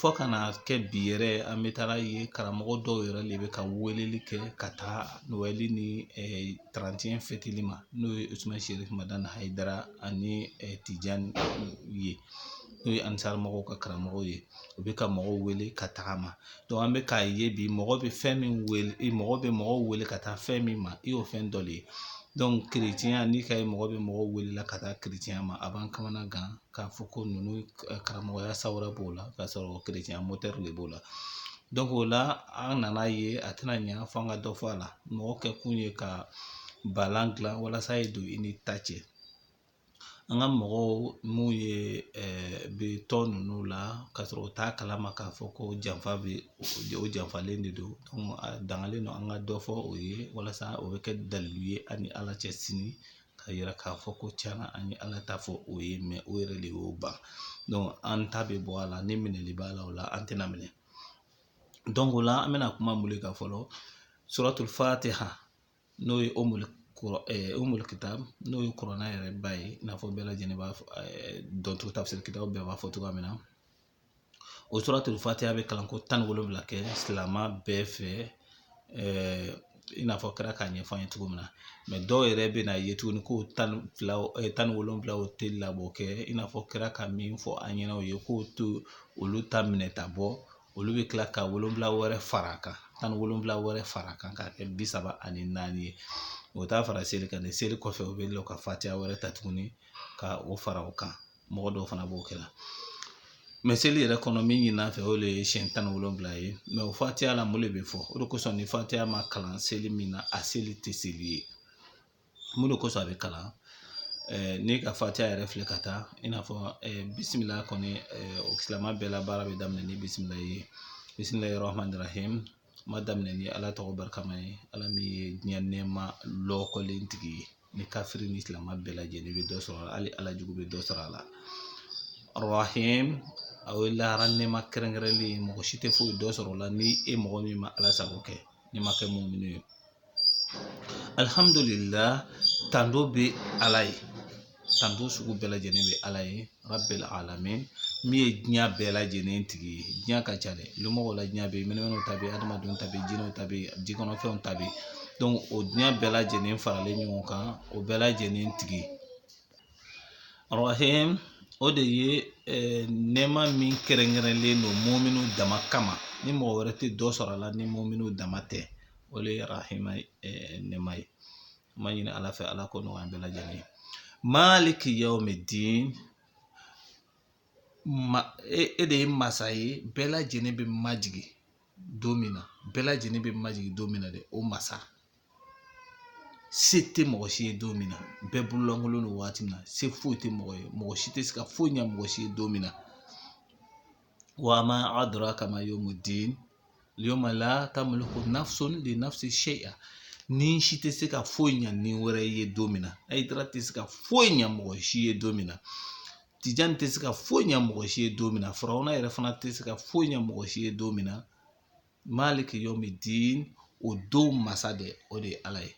fɔ ka na kɛ bi yɛrɛ an bɛ taga a ye karamɔgɔ dɔw yɛrɛ de bɛ ka weleli kɛ ka taa nin ma n'o ye dara ani tijan ye n'o ye an mɔgɔw ka karamɔgɔ ye u bɛ ka mɔgɔw wele ka tagama an bɛ k'a ye bi mɔgɔ bɛ fɛn min wele mɔgɔ bɛ mɔgɔw wele ka taa fɛn min ma i y'o fɛn dɔ de ye n'i ka mɔgɔ bɛ mɔgɔw wele ka taa ma a b'an kamana gan k'a fɔ ko ninnu karamɔgɔya sawura b'u la k'a sɔrɔ kerecɛnya mɔtɛri de b'u la o la an nana a ye a tɛna ɲɛ fɔ an ka dɔ fɔ a la mɔgɔ kɛ kun ye ka balan dilan walasa ye don i ni ta cɛ an ka mɔgɔw minnu bɛ tɔn ninnu la ka sɔrɔ u t'a kalama k'a fɔ ko janfa bɛ u janfalen de don a dangalen don an ka dɔ fɔ u ye walasa o bɛ kɛ dalilu ye an ni ala cɛ sini k'a yira k'a fɔ ko tiɲɛna an ye ala ta fɔ u ye u yɛrɛ de y'u ban an ta bɛ bɔ a la ni minɛli b'a la o la an tɛna minɛ o la an bɛna kuma mun kan fɔlɔ suratul fatiha n'o ye umul umul kitab n'o ye kurana yɛrɛ ba ye i n'a fɔ bɛɛ lajɛlen b'a dɔn cogo tafisiri kitabu bɛɛ b'a fɔ cogoya min na o suratul fatiya bɛ kalan ko tan ni wolonwula kɛ silamɛ bɛɛ fɛ i n'a fɔ kira k'a ɲɛfɔ an ye cogo min na mɛ dɔw yɛrɛ bɛ na ye tuguni ko tan fila tan ni wolonwula o tɛ laboli kɛ i n'a fɔ kira ka min fɔ an ɲɛna o ye k'o to olu ta minɛ ta bɔ olu bɛ tila ka wolonwula wɛrɛ fara a kan tan ni wolonwula wɛrɛ fara a kan k'a kɛ bi saba ani naani ye o t'a fara seli kan ni seli kɔfɛ u bɛ lɔ ka fatiya wɛrɛ ta tuguni ka o fara o kan mɔgɔ dɔw fana b'o kɛ la mɛ seli yɛrɛ kɔnɔ min ɲinina an fɛ o de ye siɲɛ tan ni wolonwula ye mɛ o fatiya la mun de bɛ fɔ o de kosɔn ni fatiya ma kalan seli min na a seli tɛ seli ye mun de kosɔn a bɛ kalan eh, n'i ka fatiya yɛrɛ filɛ ka taa i n'a fɔ eh, bisimila kɔni eh, o silamɛ bɛɛ la baara bɛ daminɛ ni bisimila ye bisimilahi rahman rahim n b'a daminɛ ni ala tɔgɔ barikama ye ala min ye diɲɛ nɛɛma lɔkɔlen tigi ye ni kafiri ni silamɛ bɛɛ lajɛlen bɛ dɔ sɔrɔ a la hali ala jugu bɛ dɔ sɔrɔ a la arahim a ye lahara nɛma kɛrɛnkɛrɛnlen ye mɔgɔ si tɛ foyi dɔ sɔrɔ o la ni e mɔgɔ min ma ala sago kɛ n'i ma kɛ muminu ye alihamudulila tando bɛ ala ye tando sugu bɛɛ lajɛlen bɛ ala ye Rabil alamin min ye diɲɛ bɛɛ lajɛlen tigi ye diɲɛ ka ca dɛ mɔgɔ la diɲɛ bɛ ɲɛnama ta bɛ adamadenw ta bɛ jinɛw ta bɛ ji kɔnɔfɛnw ta bɛ o diɲɛ bɛɛ lajɛlen faralen ɲɔgɔn kan o bɛɛ lajɛlen tigi o de ye nɛma min kɛrɛnkɛrɛnlen don muminu dama kama ni mɔgɔ wɛrɛ tɛ dɔ sɔrɔ a la ni muminu dama tɛ o de ye arahima nɛma ye n b'a ɲini ala fɛ ala k'o nɔgɔya an bɛɛ lajɛlen ye maliki yawmi din ma e, e de ye masa ye bɛɛ lajɛlen bɛ majigi don min na bɛɛ lajɛlen bɛ majigi don min na dɛ o masa se tɛ mɔgɔ si ye don min na bɛɛ bololankolon don waati min na se foyi tɛ mɔgɔ ye mɔgɔ si tɛ se ka foyi ɲa mɔgɔ si ye don min na wa ma adraka ma yawmuddin yawma la tamliku nafsun li nafsi shay'a ni si tɛ se ka foyi ɲa ni wɛrɛ ye don min na hayidara tɛ se ka foyi ɲa mɔgɔ si ye don min na tijani tɛ se ka foyi ɲa mɔgɔ si ye don min na farawuna yɛrɛ fana tɛ se ka foyi ɲa mɔgɔ si ye don min na maliki yawmi din o don masa dɛ o de ye ala ye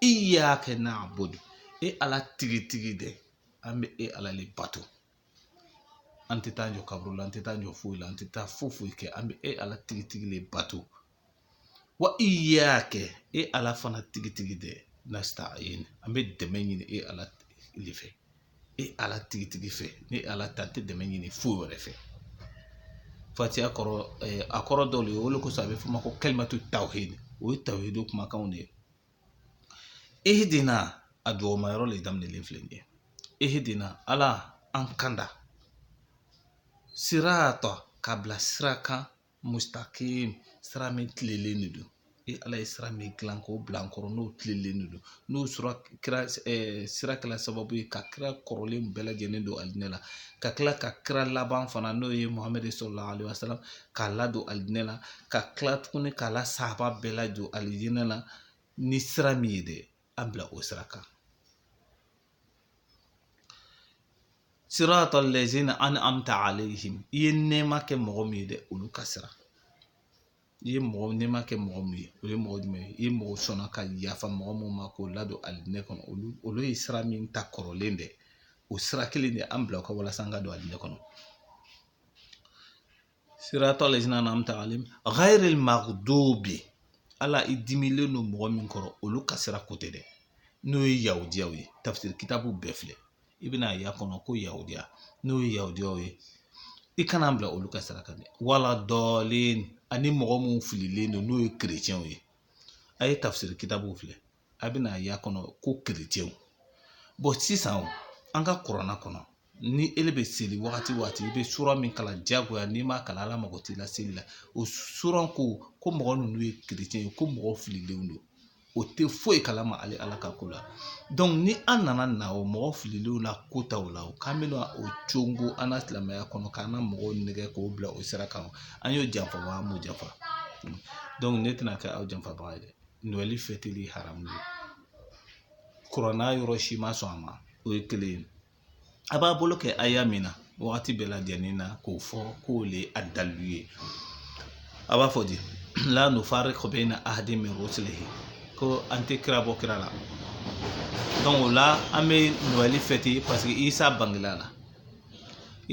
iyyaka na'budu e ala tigitigi dɛ an bɛ e ala le bato an tɛ taa jɔ kaburu la an tɛ taa jɔ foyi la an tɛ taa foyi foyi kɛ an bɛ e ala tigitigi de bato wa iyyaka e ala fana tigitigi de nasta'in an bɛ dɛmɛ ɲini e ala de fɛ e ala tigitigi fɛ ni ala tɛ an tɛ dɛmɛ ɲini foyi wɛrɛ fɛ fatiha kɔrɔ a kɔrɔ dɔw de ye o de kosɔn a bɛ f'o ma ko kalimatu tawhid o ye tawhidu kumakanw de ye ihdina a duwama yɔrɔ le daminɛlen filɛ nin ye ihdina ala an kanda sirata k'an bila sira kan mustakim sira min tilelen de don e ala ye sira min dilan k'o bila an kɔrɔ n'o tilelen de don n'o sɔrɔ kira eh, sira kɛla sababu ye ka kira kɔrɔlen bɛɛ lajɛlen don alijinɛ la ka tila ka kira laban fana n'o ye muhamɛdi salalahu alaihi wasalam k'a ladon alijinɛ la ka tila tuguni k'a la sahaba bɛɛ ladon alijinɛ la ni sira min ye dɛ an bila o sira kan siratal lazina an'amta alayhim i ye nɛɛma kɛ mɔgɔ min ye dɛ olu ka sira i ye mɔgɔ nɛɛma kɛ mɔgɔ min ye o ye mɔgɔ jumɛn ye i ye mɔgɔ sɔnna ka yafa mɔgɔ minnu ma k'o ladon alijinɛ kɔnɔ olu olu ye sira min ta kɔrɔlen dɛ o sira kelen de an bila a kan walasa an ka don alijinɛ kɔnɔ siratal lazina an'amta alayhim ghairil maghdubi ala i dimilen don mɔgɔ min kɔrɔ olu ka sira ko tɛ dɛ n'o ye yahudiyaw ye tafsir kitabu bɛɛ filɛ i bɛn'a y'a kɔnɔ ko yahudiya n'o ye yahudiyaw ye i kan'an bila olu ka sira kan dɛ wa lad dallin ani mɔgɔ minnu fililen don n'o ye kerecɛnw ye a ye tafsir kitabu filɛ a bɛn'a y'a kɔnɔ ko kerecɛnw bon sisan an ka kurana kɔnɔ ni ele bɛ seli wagati wagati i bɛ sura min kalan diyagoya n'i m'a kalan ala mago t'i la seli la o sura ko ko mɔgɔ ninnu ye kerecɛn ye ko mɔgɔ fililenw don o tɛ foyi kalama ale ala ka ko la donc ni an nana na o mɔgɔ fililenw na ko taw la o k'an bɛna o conko an ka silamɛya kɔnɔ k'an ka mɔgɔw nɛgɛ k'o bila o sira kan an y'o janfa wa an m'o janfa donc ne tɛna kɛ aw janfabaga ye dɛ noɛli fɛti haramu kurana yɔrɔ si ma sɔn a ma o ye kelen ye a b'a bolo kɛ aya min na wagati bɛɛ lajɛlen na k'o fɔ k'o le a dalilu ye a b'a fɔ di la nufariku bayina ahadin min rusulihi ko an tɛ kira bɔ kira la donc o la an bɛ noɛli fɛte paseke isa bangela la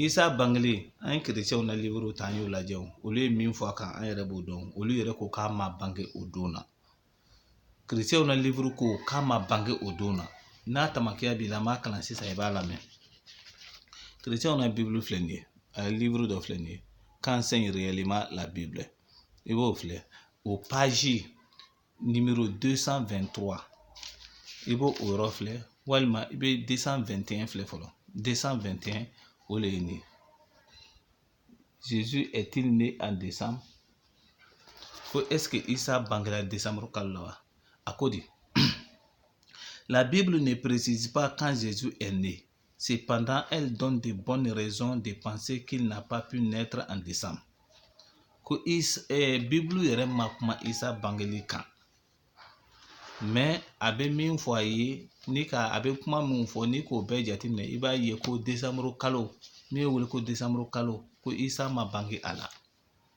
Isa bangelen an ye kerecɛw na liuru ta an y'o lajɛ olu ye min fɔ a kan an yɛrɛ b'o dɔn olu yɛrɛ ko k'a ma bange o don na kerecɛw na liuru ko k'a ma bange o don na n'a tamakiya b'i la an b'a kalan sisan i b'a lamɛn kerecɛw na bibulu filɛ nin ye a ye liuru dɔ filɛ nin ye qu'enseigne réellement la bible i b'o filɛ o paji nimoro san fɛn tɔgɔ i b'o o yɔrɔ filɛ walima i bɛ san fɛn tɛn filɛ fɔlɔ san fɛn tɛn o de ye nin ye zezu ɛtiri ne a desan ko ɛsike isa bangera desanburu kalo la wa a ko de la bible ne précise pas quand jésus est né Cependant, elle donne de bonnes raisons de penser qu'il n'a pas pu naître en décembre. Ko is, eh, Bible yɛrɛ ma kuma Isa bangeli kan. Mais a bɛ min fɔ a ye ni ka a bɛ kuma min fɔ n'i k'o bɛɛ jateminɛ i b'a ye ko décembre kalo min bɛ wele ko décembre kalo ko Isa ma bange a la.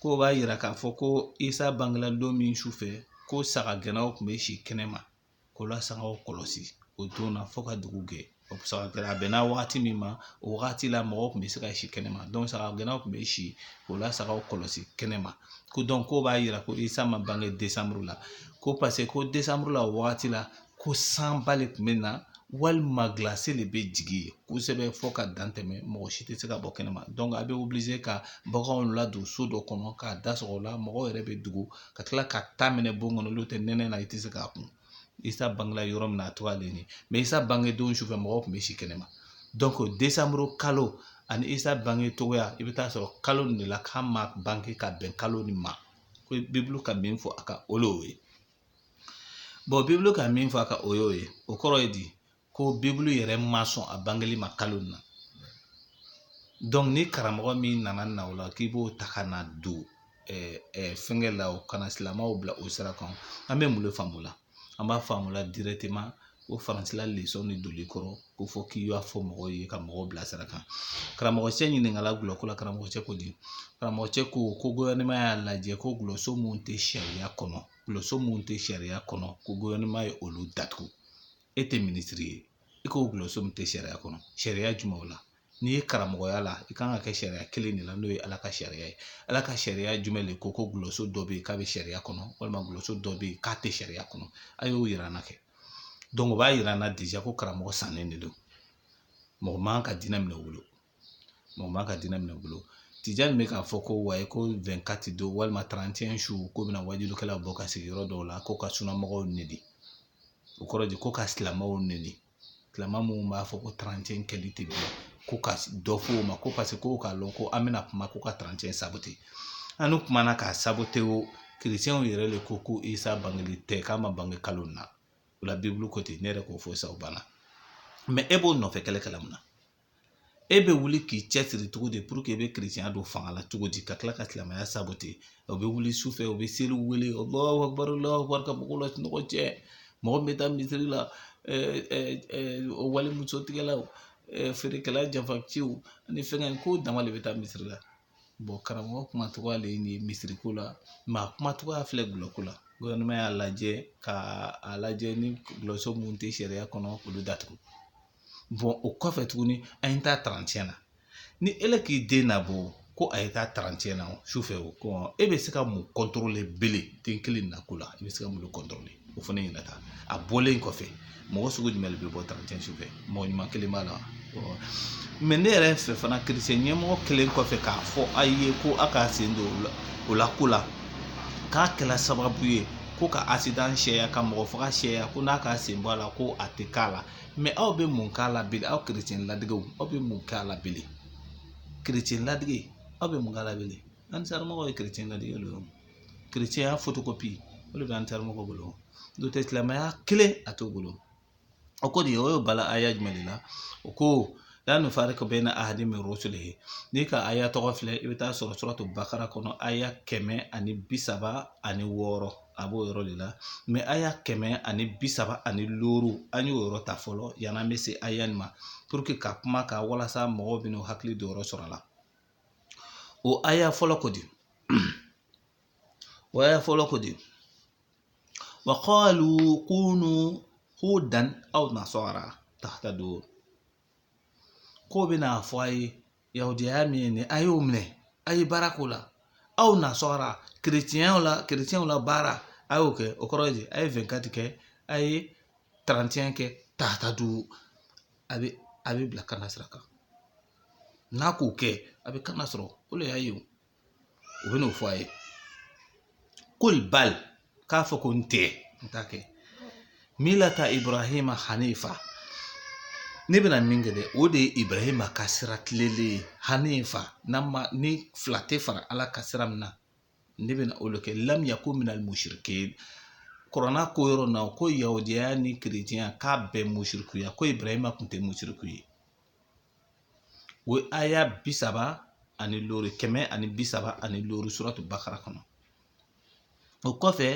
k'o b'a yira k'a fɔ ko isa bangela don min su fɛ ko saga gɛnnaw tun bɛ si kɛnɛ ma k'o la sagaw kɔlɔsi o don na fo ka dugu gɛ o saga gɛnna a bɛnna wagati min ma o wagati la mɔgɔw tun bɛ se ka si kɛnɛ ma saga gɛnnaw tun bɛ si o la sagaw kɔlɔsi kɛnɛ ma ko k'o b'a yira ko isa ma bange desanburu la ko paseke ko desanburu la o wagati la ko sanba de tun bɛ na walima gilasi de bɛ jigin kosɛbɛ fo ka dan tɛmɛ mɔgɔ si tɛ se ka bɔ kɛnɛma a bɛ wuli ka baganw ladon so dɔ kɔnɔ k'a da sɔgɔ o la mɔgɔw yɛrɛ bɛ dogo ka tila ka ta mɛnɛ bon kɔnɔ olu tɛ nɛnɛ na i tɛ se k'a kun isa bangela yɔrɔ min na a tɔgɔ ale mɛ isa bange don sufɛ mɔgɔw tun bɛ si kɛnɛma desanburu kalo ani isa bange cogoya i bɛ taa sɔrɔ kalo de la k'a ma bange ka bɛn kalo nin ma ko bibulu ka min fɔ a kan o le ye bɔn bibulu ka min fɔ a kan o y'o ye o kɔrɔ ye di ko bibulu yɛrɛ ma sɔn a bangeli ma kalo in na donc ni karamɔgɔ min nana na o la k'i b'o ta ka na don eh, eh, fɛnkɛ la ka na silamɛw bila o sira kan an bɛ mun de faamu la an b'a faamu la directement o faransi la lesɔn de doli kɔrɔ ko fɔ k'i y'a fɔ mɔgɔw ye ka mɔgɔw bila sira kan karamɔgɔcɛ ɲininkala gulɔko la karamɔgɔcɛ ko di karamɔgɔcɛ ko ko guwɛrinɛma y'a lajɛ ko gulɔso min tɛ sariya kɔnɔ gulɔso min tɛ sariya kɔnɔ ko guwɛrinɛma ye olu datugu e tɛ minisiri ye i ko gulɔso min tɛ sariya kɔnɔ sariya jumɛnw la n'i ye karamɔgɔya la i kan ka kɛ sariya kelen de la n'o ye ala ka sariya ye ala ka sariya jumɛn de ko ko dɔlɔso dɔ bɛ yen k'a bɛ sariya kɔnɔ walima dɔlɔso dɔ bɛ yen k'a tɛ sariya kɔnɔ a y'o yira an na kɛ o b'a yira an na ko karamɔgɔ sannen de don mɔgɔ man ka diinɛ minɛ o bolo mɔgɔ man ka diinɛ minɛ o bolo tija min bɛ k'a fɔ ko wayi ko fɛnkati don walima tarantiɲɛ su k'o bɛna wajulikɛlaw bɔ ka sigi yɔrɔ dɔw la ko ka sunamɔgɔw nɛni o kɔrɔ de ko ka silamɛw nɛni silamɛ minnu b'a fɔ ko tarantiɲɛ kɛli tɛ bilen ko ka dɔ fɔ o ma ko paseke k'o k'a lɔn ko an bɛna kuma ko ka tarantiɲɛ sabote an kumana k'a sabote wo kerecɛnw yɛrɛ de ko ko isa bangeli tɛ k'a ma bange kalo nin na o la bibulu ko ten ne yɛrɛ k'o fɔ sa o banna e b'o nɔfɛ kɛlɛ kɛla mun na e bɛ wuli k'i cɛsiri cogo di puruke e bɛ kerecɛnya don fanga la cogo di ka tila ka silamɛya sabote o bɛ wuli su fɛ o bɛ seli wele o lɔɔre ka mɔgɔw la sunɔgɔ cɛn mɔgɔ min bɛ taa misiri la o wali muso tigɛlaw feerekɛla janfanciw ani fɛnkɛ k'o dama de bɛ taa misiri la karamɔgɔ kuma cogoya de ye nin ye misiri ko la a kuma cogoya filɛ dɔlɔ ko la y'a lajɛ ka a lajɛ ni dɔlɔso minnu tɛ sariya kɔnɔ olu datugu bon o kɔfɛ tuguni an ye taa tarantiɲɛ na ni ele k'i den nabɔ ko a ye taa tarantiɲɛ na su fɛ o ko e bɛ se ka mun kɔntɔrɔle bele den kelen na ko la i bɛ se ka mun kɔntɔrɔle o fana ɲɛna taa a bɔlen kɔfɛ mɔgɔ sugu jumɛn de bɛ bɔ tarantiɲɛ su fɛ mɔgɔ ɲuman kelen b'a la mɛ ne yɛrɛ fɛ fana kerecɛn ɲɛmɔgɔ kelen kɔfɛ k'a fɔ a ye ko a k'a sen don o la ko la k'a kɛla sababu ye ko ka asidan caya ka mɔgɔ faga caya ko n'a k'a sen bɔ a la ko a tɛ kɛla mɛ aw bɛ mun kɛla bilen aw kerecɛn ladegew aw bɛ mun kɛla bilen kerecɛn ladege aw bɛ mun kɛla bilen ansaramɔgɔ ye kerecɛn ladege de ye kerecɛnya fotokopi o de bɛ ansaramɔgɔ bolo n'o tɛ silamɛya kelen a t'o bolo o ko de o ye bala aya jumɛn de la o ko la nufariku bayina ahadin min rusulihi n'i ka aya tɔgɔ filɛ i bɛ taa sɔrɔ suratu bakara kɔnɔ aya kɛmɛ ani bi saba ani wɔɔrɔ a b'o yɔrɔ de la mɛ aya kɛmɛ ani bi saba ani looro an y'o yɔrɔ ta fɔlɔ yann'an bɛ se aya nin ma puruke ka kuma ka walasa mɔgɔw bɛna hakili don yɔrɔ sɔrɔ a la o aya fɔlɔ ko di o aya fɔlɔ ko di wa qalu kunu hudan aw nasara tahtadu k'o bɛna a fɔ a ye yahudiyaya min ye nin a y'o minɛ a ye baara k'o la aw nasara kerecɛnw la kerecɛnw la baara a y'o kɛ o kɔrɔ ye a ye fɛnkati kɛ a ye tarantiɲɛ kɛ tahtadu a bɛ a bɛ bila kanda sira kan n'a k'o kɛ a bɛ kanda sɔrɔ o de y'a ye u bɛn'o fɔ a ye qul bal k'a fɔ ko n tɛ n t'a kɛ millata ibrahima hanifa ne bɛna min kɛ dɛ o de ye ibrahima ka sira tilelen ye hanifa n'an ma ni fila tɛ fara ala kan sira min na ne bɛna o de kɛ lam yakun minal musirikin kurana k'o yɔrɔ na ko yahudiyaya ni kerecɛnya k'a bɛɛ musirikuya ko ibrahima tun tɛ musiriku ye o ye aya bi saba ani loori kɛmɛ ani bi saba ani loori suratu bakara kɔnɔ o kɔfɛ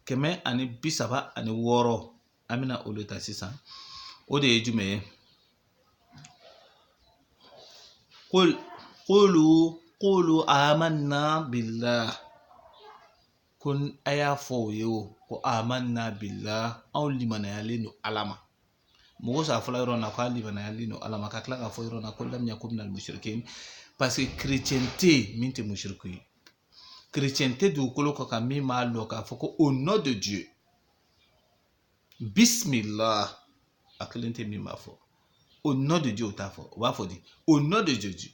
kɛmɛ ani bi saba ani wɔɔrɔ an bɛna o de ta sisan o de ye jumɛn ye qul qulu qulu amanna billah ko a y'a fɔ o ye o ko amanna billah anw limaniyalen don ala ma mun kosɔn a fɔla yɔrɔ na k'an limaniyalen don ala ma ka tila k'a fɔ yɔrɔ na ko lam yakun minal musirikin parce que chrétien tɛ yen min tɛ musiriki ye chrétien tɛ dugukolo kɔ kan min b'a dɔn k'a fɔ ko au nom de dieu bismillah a kelen tɛ min b'a fɔ au nom de dieu o t'a fɔ o b'a fɔ di au nom de jésus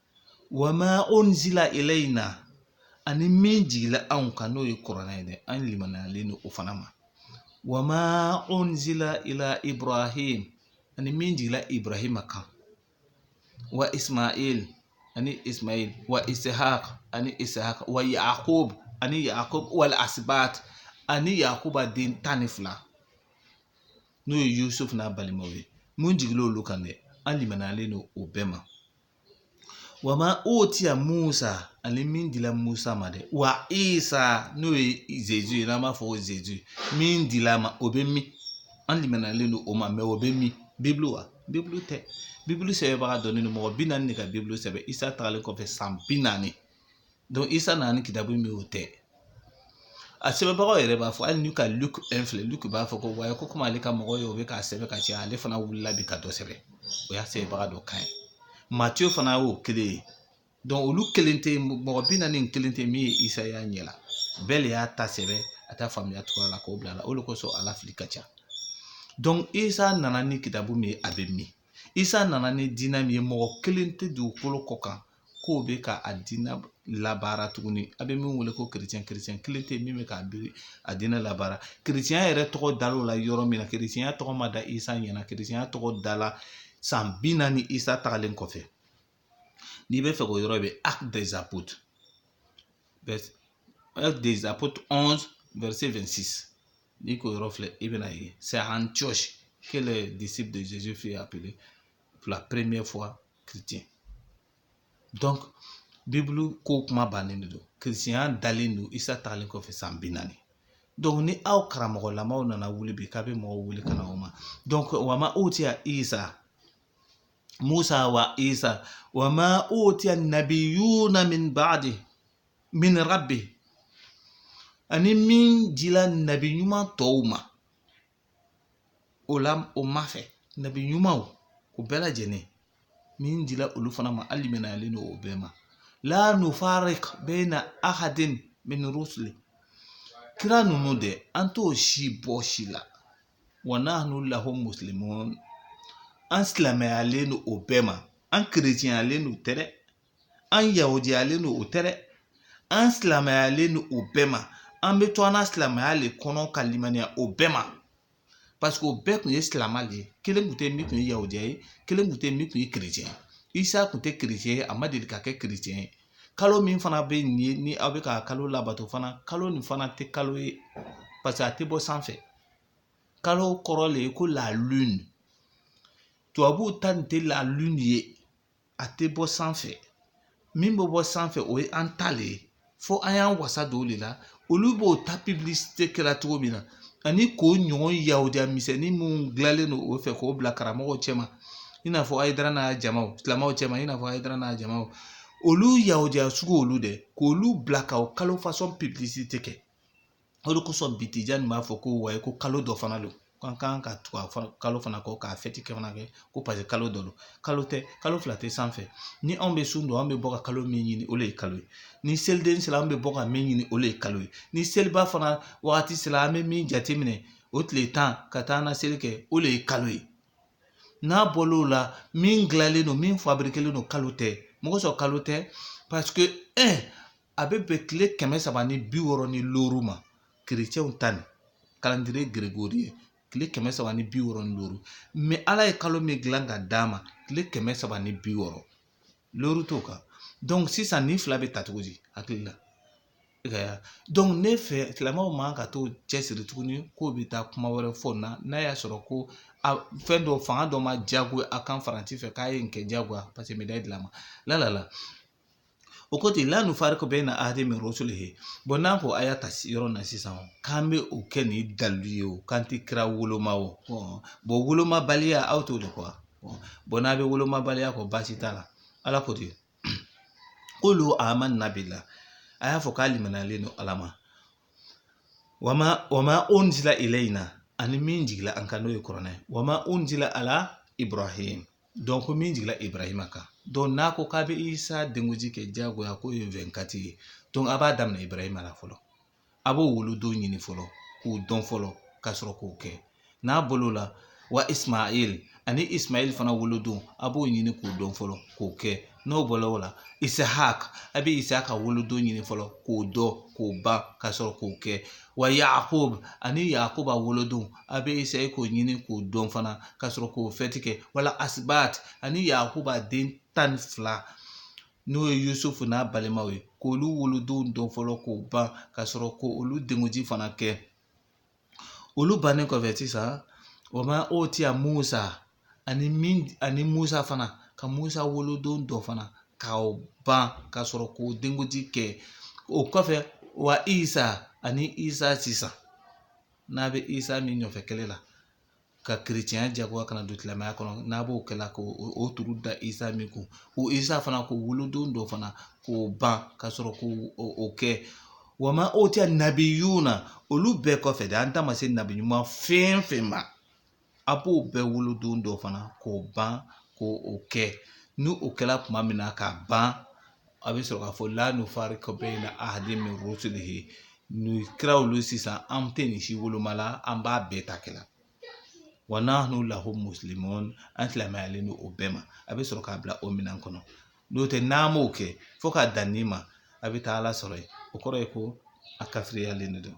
Wa ma unzila ilaina ani min jigila anw kan n'o ye kuranɛ ye dɛ an limaniyalen don o fana ma wa ma unzila ila ibrahim ani min jigila ibrahima kan wa ismail ani ismail wa ishaq ani ishaq wa yakub ani yakub wal asbat ani yakuba den tan ni fila n'o ye yusufu n'a balimaw ye min jigila olu kan dɛ an limaniyalen don o bɛɛ ma Wa ma utiya musa ani min dila musa ma dɛ wa isa n'o ye zezu ye n'an b'a fɔ o zezu min dil'a ma o bɛ min an limaniyalen don o ma mais o bɛ min bibulu wa bibulu tɛ bibulu sɛbɛnbaga dɔnnen don mɔgɔ bi naani de ka bibulu sɛbɛn isa tagalen kɔfɛ san bi naani donc isa nana ni kitabu min y'o tɛ a sɛbɛnbagaw yɛrɛ b'a fɔ hali n'i ka luk un filɛ luk b'a fɔ ko wayi ko komi ale ka mɔgɔ ye o bɛ k'a sɛbɛn ka caya ale fana wulila bi ka dɔ sɛbɛn o y'a sɛbɛnbaga dɔ kan ye matiyo fana y'o kelen ye donc olu kelen tɛ mɔgɔ bi naani nin kelen tɛ min ye isa y'a ɲɛ la bɛɛ de y'a ta sɛbɛn a ta faamuya cogoya la k'o bila a la o de kosɔn a la fili ka ca donc isa nana ni kitabu min ye a bɛ min isa nana ni diinɛ min ye mɔgɔ kelen tɛ dugukolo kɔ kan k'o bɛ ka a diinɛ labaara tuguni a bɛ min wele ko kerecɛn kerecɛn kelen tɛ yen min bɛ k'a bi a diinɛ labaara kerecɛnya yɛrɛ tɔgɔ dal'o la yɔrɔ min na kerecɛnya tɔgɔ ma da isa ɲɛna kerecɛnya tɔgɔ dala san bi naani isa tagalen kɔfɛ n'i bɛ fɛ k'o yɔrɔ bɛ acte des apôtres acte des apôtres 11 verset 26 n'i k'o yɔrɔ filɛ i bɛn'a ye c'est à Antioche que les disciples de Jésus furent appelés pour la première fois chrétiens donc bibulu ko kuma bannen de don kerecɛnya dalen don isa tagalen kɔfɛ san bi naani donc ni aw karamɔgɔlamaw nana wuli bi k'a bɛ mɔgɔw wele ka na o ma donc wa ma utiya isa Musa wa Isa wa ma utiya nabiyuna min ba'di min rabbi ani min jila nabi ɲuman tɔw ma o la o ma fɛ nabi ɲumanw o bɛɛ lajɛlen min jila olu fana ma an limaniyalen don o bɛɛ ma la nufarik bayna ahadin min rusuli kira ninnu dɛ an t'o si bɔ si la wa nahnu lahu muslimun an silamɛyalen don o bɛɛ ma an kerecɛnyalen don o tɛ dɛ an yahudiyalen don o tɛ dɛ an silamɛyalen don o bɛɛ ma an bɛ to an ka silamɛya le kɔnɔ ka limaniya o bɛɛ ma paseke o bɛɛ tun ye silamɛ de ye kelen tun tɛ min tun ye yahudiya ye kelen tun tɛ min tun ye kerecɛn ye isa tun tɛ kerecɛn ye a ma deli ka kɛ kerecɛn ye kalo min fana bɛ nin ye ni aw bɛ ka kalo labato fana kalo nin fana tɛ kalo ye paseke a tɛ bɔ sanfɛ kalo kɔrɔ le ye ko la lune tubabuw ta nin tɛ la lune ye a tɛ bɔ sanfɛ min bɛ bɔ sanfɛ o ye an ta le ye fo an y'an wasa don o de la olu b'o ta publicité kɛra cogo min na ani k'o ɲɔgɔn yahudiya misɛnnin minnu dilanlen don o fɛ k'o bila karamɔgɔw cɛma i n'a fɔ hayidara n'a jamaw silamɛw cɛma i n'a fɔ hayidara n'a jamaw olu yahudiya sugu olu dɛ k'olu bila ka o kalo fasɔn publicité kɛ o de kosɔn bitija nin b'a fɔ ko wayi ko kalo dɔ fana don ko an kan ka tugu a kalo fana kɔ k'a fɛti kɛ fana kɛ ko paseke kalo dɔ don kalo tɛ kalo fila tɛ sanfɛ ni anw bɛ sun don an bɛ bɔ ka kalo min ɲini o de ye kalo ye ni seliden sera an bɛ bɔ ka min ɲini o de ye kalo ye ni seliba fana wagati sera an bɛ min jateminɛ o tile tan ka taa an ka seli kɛ o de ye kalo ye n'a bɔl'o la min dilanlen don min fabirikelen don kalo tɛ mɔgɔ sɔrɔ kalo tɛ paseke ɛ a bɛ bɛn tile kɛmɛ saba ni bi wɔɔrɔ ni loru ma kerecɛnw ta nin calendrier grégorien tile kɛmɛ saba ni bi wɔɔrɔ ni loru mɛ ala ye kalo min dilan ka d'an ma tile kɛmɛ saba ni bi wɔɔrɔ loru t'o kan dɔnku sisan nin fila bɛ ta cogo di hakili la dɔnku ne fɛ silamɛw man kan k'o cɛsiri tuguni k'o bɛ taa kuma wɛrɛ fɔ na n'a y'a sɔrɔ ko a fɛn dɔ fanga dɔ m'a jagoya an kan faransi fɛ k'a ye nin kɛ jagoya paseke mɛ da dilan ma la la o ko ten la nufariku bayina ahadin min rusulihi bɔn n'an ko a y'a ta yɔrɔ na sisan k'an bɛ o kɛ ni dalilu ye o k'an tɛ kira woloma o bɔn wolomabaliya aw t'o de kɔ bɔn n'a bɛ wolomabaliya kɔ baasi t'a la ala ko ten kulu amana bila a y'a fɔ k'an limaniyalen don ala ma wama wama unzila ilayina ani min jigila an kan n'o ye kuranɛ wama unzila ila ibrahim donc ko min jiginla ibrahima kan donc n'a ko k'a bɛ isa denkundi kɛ diyagoya n'o ye vingt-quatre ye donc a b'a daminɛ ibrahima la fɔlɔ a b'o wolodon ɲini fɔlɔ k'o dɔn fɔlɔ ka sɔrɔ k'o kɛ n'a bɔla o la wa ismail ani ismail fana wolodon a b'o ɲini k'o dɔn fɔlɔ k'o kɛ n'o bɔla o la isahak a bɛ isaka wolodon ɲini fɔlɔ k'o dɔn k'o ban ka sɔrɔ k'o kɛ wa yakob ani yakoba wolodon a bɛ k'o ɲini k'o dɔn fana ka sɔrɔ k'o fɛti kɛ wala asibat ani yakuba den tan ni fila n'o ye yusufu n'a balimaw ye k'olu wolodon dɔn fɔlɔ k'o ban ka sɔrɔ ko olu denkundi fana kɛ olu bannen kɔfɛ sisan wama utiya musa ani min ani musa fana ka musa wolodon dɔn fana k'o ban ka sɔrɔ k'o denkundi kɛ o kɔfɛ wa isa ani isa sisan n'a bɛ isa min ɲɔfɛ kɛlɛ la ka kerecɛnya jagoya ka na don silamɛya kɔnɔ n'a b'o kɛla ko o turu da isa min kun o isa fana k'o wolodon dɔn fana k'o ban ka sɔrɔ k'o o kɛ wama utiya nabiyuna olu bɛɛ kɔfɛ de an ta ma se nabi ɲuman fɛn fɛn ma a b'o bɛɛ wolodon dɔn fana k'o ban k' o kɛ ni o kɛra tuma min na k'a ban a bɛ sɔrɔ k'a fɔ la nufariku bayina ahadin min rusulihi nin kira olu sisan an tɛ nin si woloma la an b'a bɛɛ ta kɛla wa nahnu lahu muslimun an silamɛyalen don o bɛɛ ma a bɛ sɔrɔ k'a bila o minɛn kɔnɔ n'o tɛ n'a m'o kɛ fo k'a dan nin ma a bɛ taa ala sɔrɔ yen o kɔrɔ ye ko a kafiriyalen de don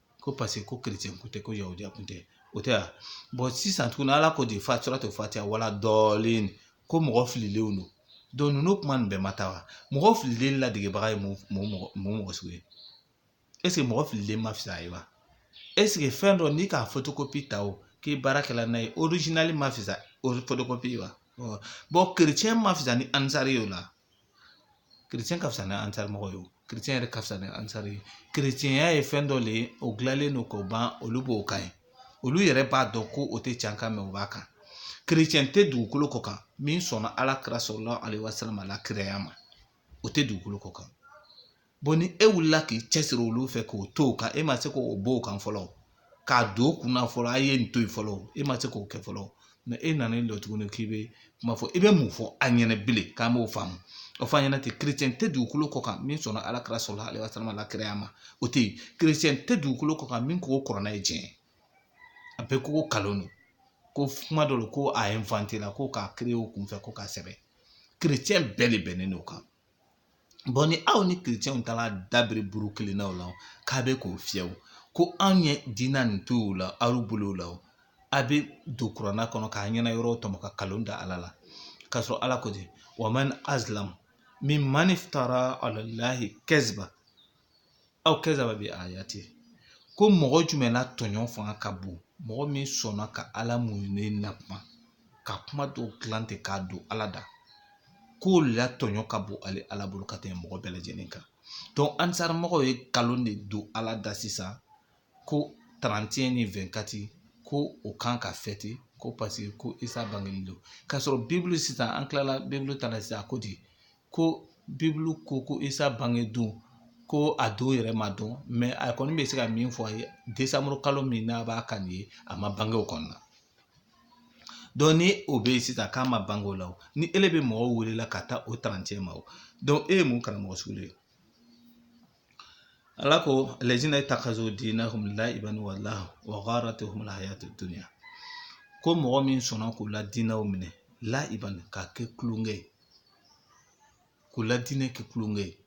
ko paseke ko kerecɛn ko tɛ ko yahudiya ko tɛ o tɛ yan bɔn sisan tuguni ala ko ten fi suratil fatiya wala dɔɔlin ko mɔgɔ fililenw don donc ninnu kuma nin bɛɛ ma taa wa mɔgɔ fililen ladegebaga ye mun mɔgɔ mun mɔgɔ sugu ye eseke mɔgɔ fililen ma fisa ye wa eseke fɛn dɔ n'i k'a fotokopi ta o k'i baarakɛla n'a ye orijinali ma fisa fotokopi wa bɔn kerecɛn ma fisa ni ansari ye o la ka fisa ni ansari mɔgɔ ye kerecɛn yɛrɛ ka fisa ni ansari ye kerecɛnya ye fɛn dɔ de ye o dilanlen don k'o ban olu b'o kan ye olu yɛrɛ b'a dɔn ko o tɛ can quand même u b'a kan kerecɛn tɛ dugukolo kɔ kan min sɔnna ala kira salalahu alayihi wasalam la kiraya ma o tɛ dugukolo kɔ kan bon ni e wulila k'i cɛsiri olu fɛ k'o to o kan e ma se k'o b'o kan fɔlɔ k'a don kunna fɔlɔ a ye nin to yen fɔlɔ e ma se k'o kɛ fɔlɔ mɛ e nana e dɔ tuguni k'i bɛ kuma fɔ i bɛ mun fɔ a ɲɛna bilen k'an b'o faamu o fɔ a ɲɛna ten kerecɛn tɛ dugukolo kɔ kan min sɔnna ala kira salalahu alehi wasalama la kiraya ma o tɛ yen kerecɛn tɛ dugukolo kɔ kan min ko kuranɛ ye tiɲɛ a bɛɛ k'o kalon don ko kuma dɔ la ko a ye inventer la ko k'a créer o kunfɛ ko k'a sɛbɛn kerecɛn bɛɛ de bɛnnen don o kan Bɔn ni aw ni kerecɛnw taara da biri buru kelen na la k'a bɛ k'o fiyɛ ko anw ye diinɛ nin to o la aw bolo la a bɛ don kuranɛ kɔnɔ k'a ɲɛna yɔrɔ tɔmɔ ka kalon da ala la k'a sɔrɔ ala ko di wa man azlamu miman iftara alalayi kaziba aw kazaba bi ayati ko mɔgɔ jumɛn na tɔɲɔ fanga ka bon mɔgɔ min sɔnna ka ala mun ne na kuma ka kuma dɔw dilan ten k'a don ala da k'o la tɔɲɔ ka bon ale ala bolo ka tɛmɛ mɔgɔ bɛɛ lajɛlen kan donc ansarimɔgɔw ye nkalon de don ala da sisan ko tarantiɲɛ ni wɛnkati ko o kan ka fɛti ko paseke ko isa bangeli don k'a sɔrɔ bibulu sisan an tilala bibulu ta la sisan a ko di ko bibulu ko ko isa bange don ko a don yɛrɛ ma dɔn mɛ a kɔni bɛ se ka min fɔ a ye desanburu kalo min n'a b'a kan nin ye a ma bange o kɔnɔna donc ni o bɛ yen sisan k'a ma bange o la o ni ele bɛ mɔgɔw welela ka taa o tarancɛ ma o donc e ye mun karamɔgɔ sugu le ye ala ko alazina takazu diinahum laiban wa lahaw wa gharatihumul hayatu dunya ko mɔgɔ min sɔnna k'u la diinɛ minɛ laiban k'a kɛ tulonkɛ ye k'u la diinɛ kɛ tulonkɛ ye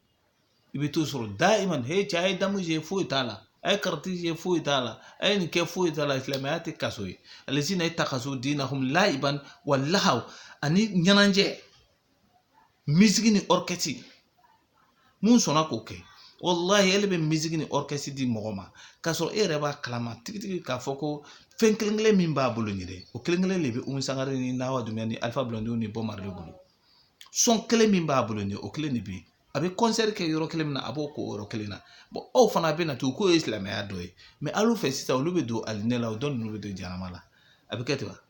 i bɛ t'o sɔrɔ daiman he cɛ a ye damu jouer foyi t'a la a ye kariti jouer foyi t'a la a ye nin kɛ foyi t'a la silamɛya tɛ kaso ye alazina takazu diinahum laiban wa lahaw ani ɲɛnajɛ misiki ni ɔrikɛsi mun sɔnna k'o kɛ walahi ele bɛ misiki ni ɔrikɛsi di mɔgɔ ma k'a sɔrɔ e yɛrɛ b'a kalama tigitigi k'a fɔ ko fɛn kelen kelen min b'a bolo nin dɛ o kelen kelen de bɛ umu sangare ni nawa dunbiya ni alifa bulɔndiw ni bɔbu marile de bolo sɔn kelen min b'a bolo nin o kelen de bɛ yen a bɛ kɔnsɛri kɛ yɔrɔ kelen min na a b'o k'o yɔrɔ kelen na bɔn aw fana bɛ na to k'o ye silamɛya dɔ ye mɛ alu fɛ sisan olu bɛ don alijinɛ la o dɔ ninnu bɛ don jahanama la a bɛ kɛ ten wa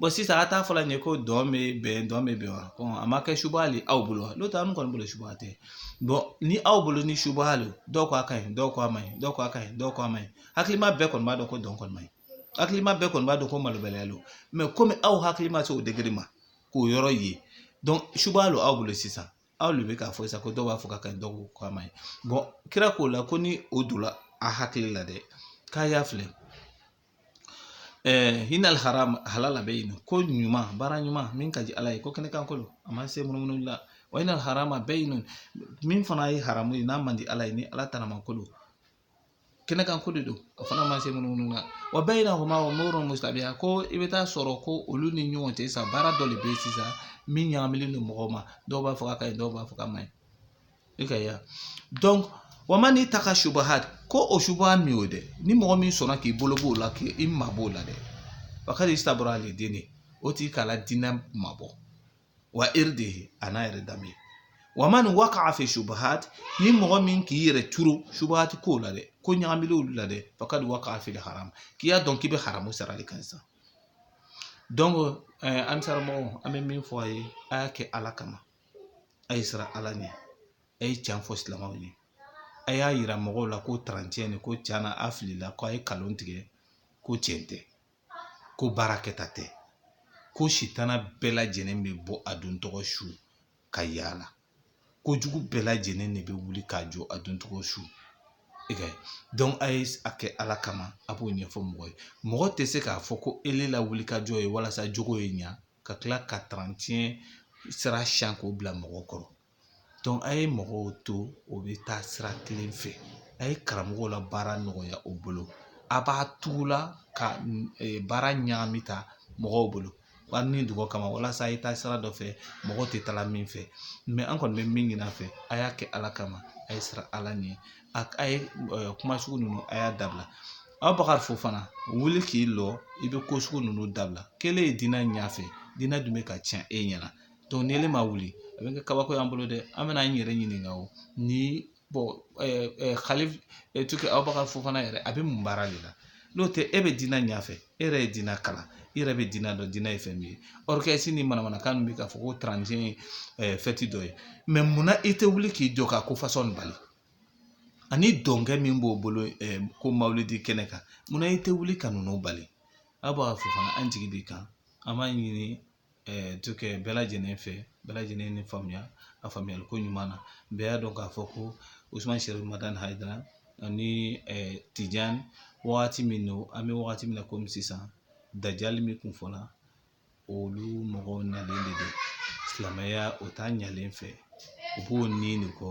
bɔn sisan a t'a fɔla nin ye ko dɔn bɛ bɛn dɔn bɛ bɛn wa ko a ma kɛ subaha le aw bolo wa n'o tɛ an kɔni bolo subaha tɛ bɔn ni aw bolo ni subaha le dɔw k'a ka ɲi dɔw k'a ma ɲi dɔw k'a ka ɲi dɔw k'a ma ɲi hakilima bɛɛ kɔni b'a dɔn ko dɔn kɔni ma ɲi hakilima bɛɛ kɔni b'a dɔn ko malobaliya don mɛ komi aw hakili ma se o degere ma k'o yɔrɔ ye donc subaha le aw bolo sisan aw de bɛ k'a fɔ sisan ko dɔw b'a fɔ k'a ka ɲi dɔw ko k'a ma ɲi bɔn kira k'o la ko ni o donna a hakili la dɛ k'a y'a fili inal halala bayinun ko ɲuman baara ɲuman min ka di ala ye ko kɛnɛ kan ko lo a ma se munumunu la wa inal harama bayinun min fana ye haramu ye n'a man di ala ye ni ala taara ma ko lo kɛnɛ kan ko de don o fana ma se munumunu na wa bayinahuma umurun musitabiha ko i bɛ taa sɔrɔ ko olu ni ɲɔgɔn cɛ sa baara dɔ de bɛ yen sisan min ɲagaminen don mɔgɔw ma dɔw b'a fɔ k'a ɲi dɔw b'a fɔ k'a man ɲi i ka ya donc wa man itaka subuhati ko o subaha min y'o dɛ ni mɔgɔ min sɔnna k'i bolo b'o la k'i mabɔ o la dɛ fakad istabara li dinihi o tigi k'a la diinɛ mabɔ wa irdihi an'a yɛrɛ danbe wa man waka fi subuhati ni mɔgɔ min k'i yɛrɛ turu subuhati ko la dɛ ko ɲagaminen olu la dɛ fakad waka fil haram k'i y'a dɔn k'i bɛ haramu sira de kan sisan donc an karamɔgɔw an bɛ min fɔ a ye a y'a kɛ ala kama a ye siran ala ɲɛ a ye tiɲɛ fɔ silamɛw ye a y'a yira mɔgɔw la ko tarantiɲɛ de ko tiɲɛna a filila ko a ye kalon tigɛ ko tiɲɛ tɛ ko baara kɛta tɛ ko sitana bɛɛ lajɛlen bɛ bɔ a don tɔgɔ su ka yaala kojugu bɛɛ lajɛlen de bɛ wuli ka jɔ a don tɔgɔ su donc a ye a kɛ ala kama a b'o ɲɛfɔ mɔgɔ ye mɔgɔ tɛ se k'a fɔ ko ele la wulikajɔ ye walasa jogo ye ɲa ka tila ka tarantiɲɛ sira siyan k'o bila mɔgɔw kɔrɔ donc a ye mɔgɔw to o bɛ taa sira telen fɛ a ye karamɔgɔw la baara nɔgɔya u bolo a b'a tugu la ka baara ɲagami ta mɔgɔw bolo a ni dungɔ kama walasa a ye taa sira dɔ fɛ mɔgɔw tɛ taa min fɛ an kɔni bɛ min ɲini a fɛ a y'a kɛ ala kama a ye siran ala ɲɛ a ye kuma sugu ninnu a y'a dabila abubakari fofana wuli k'i jɔ i bɛ ko sugu ninnu dabila k'e le ye diinɛ ɲɛ fɛ diinɛ dun bɛ ka tiɲɛ e ɲɛna donc ni ele ma wuli a bɛ kɛ kabako y'an bolo dɛ an bɛna n yɛrɛ ɲininka o ni kali abubakari fofana yɛrɛ a bɛ mun baara de la n'o tɛ e bɛ diinɛ ɲɛfɛ e yɛrɛ ye diinɛ kalan i yɛrɛ bɛ diinɛ dɔn diinɛ ye fɛn min ye ni manamanakan min bɛ k'a fɔ ko tarantiɲɛ fɛti dɔ ye munna i tɛ wuli k'i jɔ ka ko fasɔn bali ani dɔnkɛ min b'o bolo ko mawulidi kɛnɛ kan munna i tɛ wuli ka ninnu bali abubakari fofana an jigi b'i kan an b'a ɲini to kɛ bɛɛ lajɛlen fɛ bɛɛ lajɛlen ni faamuya a faamuyali ko ɲuman na bɛɛ y'a dɔn k'a fɔ ko usuman sɛrifu madani hayidara ani tijan wagati min don an bɛ wagati min na komi sisan dajali min kun fɔla olu mɔgɔw nalen de don silamɛya o ta ɲalen fɛ u b'o nin de kɔ